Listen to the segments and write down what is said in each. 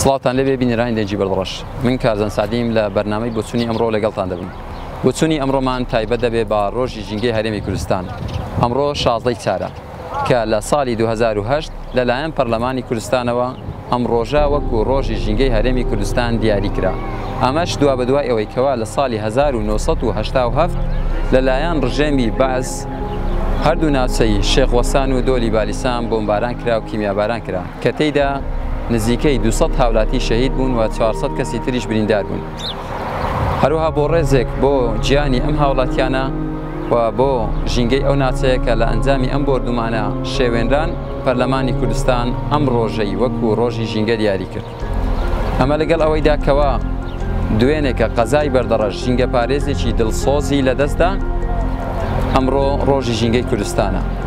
سڵاوتان لێبێ بینەرانی دەنگی بەردڕەش من کارزان سەعدیم لە بەرنامەی بۆچوونی ئەمڕۆ لەگەڵتان دەبم بۆچوونی ئەمڕۆمان تایبەت دەبێ بە ڕۆژی ژینگەی هەرێمی کوردستان ئەمڕۆ شازدەی چارە کە لە ساڵی 2010 لەلایەن پەرلەمانی کوردستانەوە ئەم ڕۆژە وەکو ڕۆژی ژینگەی هەرێمی کوردستان دیاری کرا ئەمەش دوا بە دوای ئەوەی کەوا لە ساڵی 1970 لەلایەن ڕژێمی بەعس هەردوو ناوچەی شێخ وەسان و دۆلی بالیسان بۆمباران کرا و کیمیاباران کرا کە تێیدا نزیکەی دوو سەد هاولاتی شەهید بوون و چوار سەد کەسی تریش بریندار بوون. هەروەها بۆ ڕێزێک بۆ گیانی ئەم هاوڵاتیانە و بۆ ژینگەی ئەو ناچەیە کە لە ئەنجامی ئەم بۆردومانە شێوێنران، پەرلەمانی کوردستان ئەم ڕۆژەی وەکو ڕۆژی ژینگە دیاری کرد. ئەمە لەگەڵ ئەوەیدا کەوا دوێنێکە قەزای بەردەڕەش ژینگەپارێزێکی دڵسۆزی لەدەستدا، ئەمڕۆ ڕۆژی ژینگەی کوردستانە.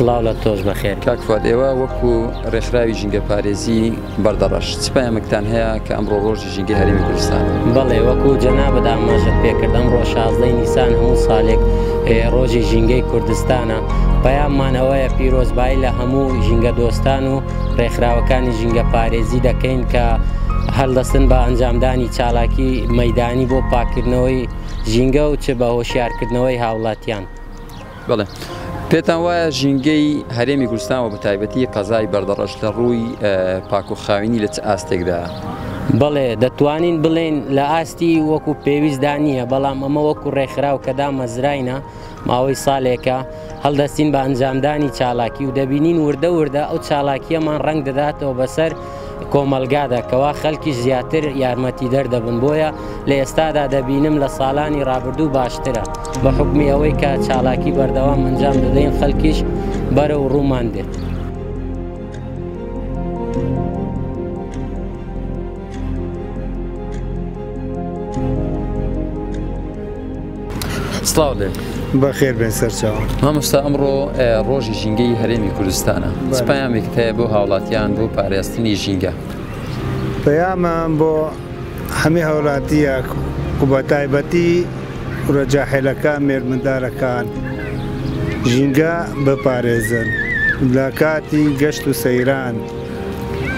سڵاو لە تۆش بەخێر کاکفات ئێوە وەکو ڕێکخراوی ژینگە پارێزی بەردەڕەش سپایەمەکتان هەیە کە ئەمڕۆ ڕۆژی ژینگە هەرمی کوردستان بەڵێ وەکو جەنا بەداماژت پێکرد ئەمڕۆ شازدەی نیسان هەموو ساڵێک ڕۆژی ژینگەی کوردستانە پەیاممان ئەوەیە پیرۆزبایی لە هەموو ژینگە دۆستان و ڕێکخراوەکانی ژینگەپارێزی دەکەین کە هەلدەستن بە ئەنجامدانی چالاکی مەدانی بۆ پاککردنەوەی ژینگە و چ بە هۆشیارکردنەوەی هاوڵاتیان. بەڵێ پێتان وایە ژینگەی هەرێمی کوردستان و بەتایبەتی قەزای بەردەڕەش لە ڕووی پاک و خاوینی لە چ ئاستێکدا؟ بەڵێ دەتوانین بڵێین لە ئاستی وەکو پێویستدا نییە، بەڵام ئەمە وەکو ڕێکخراو کە دامەزراینە ماوەی ساڵێکە هەڵدەستین بە ئەنجامدانی چالاکی و دەبینین وردە وردە ئەو چالاکیەمان ڕنگ دەداتەوە بەسەر کۆمەلگادا کەوا خەلکی زیاتر یارمەتی دەردەبن بۆیە لە ئێستادا دەبینم لە ساڵانی رابردوو باشترە بە حکمی ئەوەی کە چالاکی بەردەوام ئەنجام دەدەین خەلکیش بەرە و ڕوومان دێت. سلااو لێ بەخێر بێن سەرچاو هەمستا ئەمڕۆ ڕۆژی ژینگەی هەرێمی کوردستانە پامێک هەیە بۆ هاوڵاتیان بۆ پارێزتنی ژینگە پەیامان بۆ هەمی هاوڵاتیە و بە تایبەتی ڕەجاحێلەکە مێرمدارەکان ژینگە بپارێزن لە کاتی گەشت و سەیران.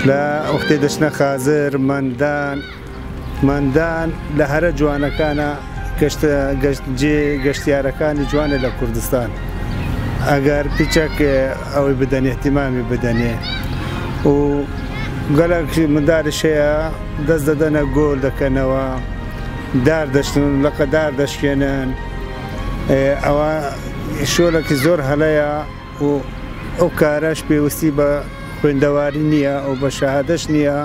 لە وەختێ دەچنە خازر مەندان مەندان لە هەرە جوانەکانە گەشتە گەشت جێ گەشتیارەکانی جوانە لە کوردستان ئەگەر پیچەک ئەوەی بدەنێ اهتمامی بدەنێ و گەلەک منداری شەیە دەست دەدەنە گۆل دەکەنەوە دار دەشتن لەقە دار دەشکێنن ئەوە شۆلەکی زۆر هەلەیە و ئەو کارەش پێوستی بە خوێندەواری نیە و بە شەهادەش نیە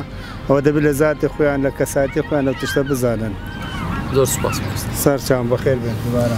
ئەوە دەبێت لە زاتی خۆیان لە کەساتی خۆیان لە تشتە بزانن زۆر سپاس سەرچان بەخێر بێت دوبارە.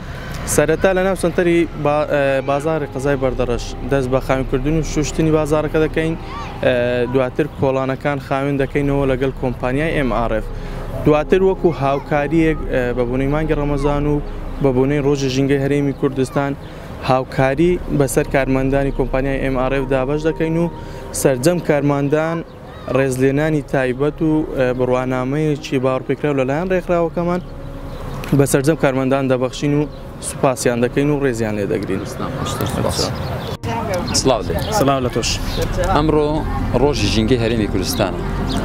سەرەتا لەناو سەنتەری بازاڕی قەزای بەردەڕەش دەست بە خاوێنکردن و شوشتنی بازاڕەکە دەکەین، دواتر کۆڵانەکان خاوێن دەکەینەوە لەگەڵ کۆمپانیای ئێم ئاڕ ئێف، دواتر وەکو هاوکارییەک بە بۆنەی مانگی ڕەمەزان و بە بۆنەی ڕۆژی ژینگەی هەرێمی کوردستان هاوکاری بەسەر کارمەندانی کۆمپانیای ئێم ئاڕ ئێف دا بەش دەکەین و سەرجەم کارمەندان ڕێزلێنانی تایبەت و بڕوانامەیەکی باوەڕپێکراو لەلایەن ڕێکخراوەکەمان بە سەرجەم کارمەندان دەبەخشین و سوپاسیان دەکەین و ڕێزیان لێ دەگرین. سڵاو لە تۆش ئەمڕۆ ڕۆژی ژینگەی هەرێمی کوردستانە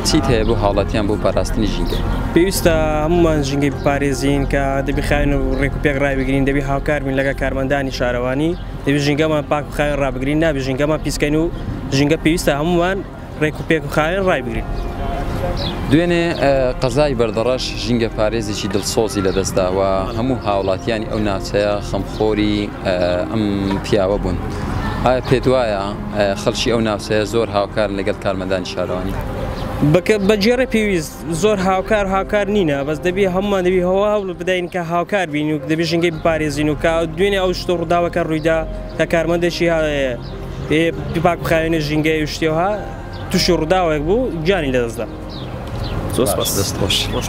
چیت هەیە بۆ هاوڵاتیان بۆ پاراستنی ژینگە پێویستە هەمومان ژینگەی بپارێزین کە دەبی خاین و ڕێک و پێک ڕایبگرین دەبی هاوکاربین لەگە کارمەندانی شارەوانی دەبێت ژینگەمان پاک و خاوێن ڕابگرین نابێت ژینگەمان پیسکەین و ژینگە پێویستە هەمووان ڕێک و پێک و خاوێن ڕایبگرین. دوێنێ قەزای بەردەڕەش ژینگە پارێزێکی دڵسۆزی لەدەستدا و هەموو هاوڵاتیانی ئەو ناوچەیە خەمخۆری ئەم پیاوە بوون. ئایا پێت وایە خەڵکی ئەو ناوچەیە زۆر هاوکارن لەگەڵ کارمەندانی شارەوانی؟ بەکە بەگێڕێ پێویست زۆر هاوکار هاوکار نینە بەس دەبی هەمومان دەبی هەوا هەوڵ بدەین کە هاوکار بین و دەبی ژنگەی بپارێزین و کە دوێنێ ئەو شتە ڕووداوەکە ڕوویدا کە کارمەندێکی پاک بخاوێنە ژینگەی و شتێها تووشی ڕووداوێک بوو گیانی لەدەستدا زۆر دەست خۆش خۆش.